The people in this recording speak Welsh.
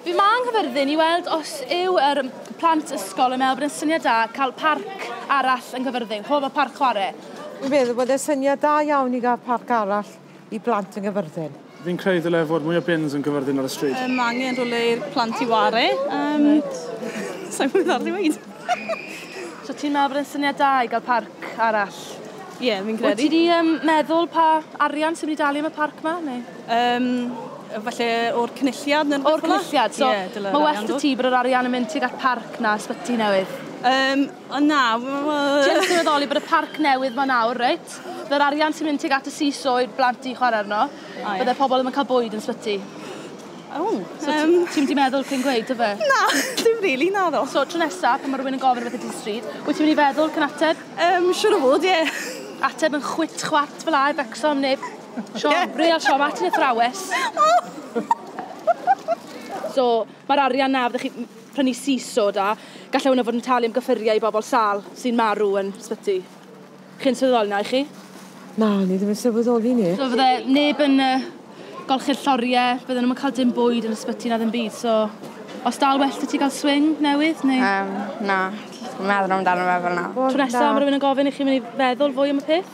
Fi ma yng Nghyfyrddin i weld os yw yr plant ysgol yn meddwl bod yn syniad da cael parc arall yng Nghyfyrddin, chwbl fel parc chwarae. Fi'n meddwl bod e'n syniad da iawn i gael parc arall i blant yng Nghyfyrddin. Fi'n credu dyle fod mwy o bins yn Cyfyrddin ar y stryd. Yym ma angen rhywle i'r plant i ware. Yym sai'n gwbod beth arall i weud. So ti'n meddwl bod e'n syniad da i gael parc arall? Ie fi'n credu. Wyt ti 'di yym meddwl pa arian sy'n myn' i dalu am y parc 'ma neu? Um, falle o'r cynulliad neu O'r cynulliad, so yeah, mae well da ti bod yr arian yn mynd tuag at parc na ysbyty newydd. Um, o na. Ti'n sylweddoli bod y parc newydd ma nawr, reit? Byddai'r arian sy'n mynd tuag at y seesaw i'r blant i chwarae arno, oh, yeah. pobl ddim yn cael bwyd yn sbyty. Oh, so um... ti'n mynd i meddwl cyn gweud, yfe? Na, dim really, na ddo. So, tro nesaf, pan mae rhywun yn gofyn rhywbeth i ti stryd, wyt ti'n mynd i feddwl cyn ateb? Um, siwr o fod, ie. Yeah. Ateb yn chwit chwat fel a i becso am neb Siom, real siom, at yn athrawes. so, mae'r arian na fydde chi prynu siso da, gallai hwnna fod yn talu am gyffuriau i bobl sal sy'n marw yn sbyty. Chi'n sylweddoli na i chi? Na, ni ddim yn sylweddoli ni. So fydde neb yn uh, golchi'r lloriau, bydden nhw'n cael dim bwyd yn ysbyty na ddim byd, so os dal well ti gael swing newydd neu... Um, na, meddwl amdano fe fel na. Tro nesaf mae rhywun yn gofyn i chi mynd i feddwl fwy am y peth?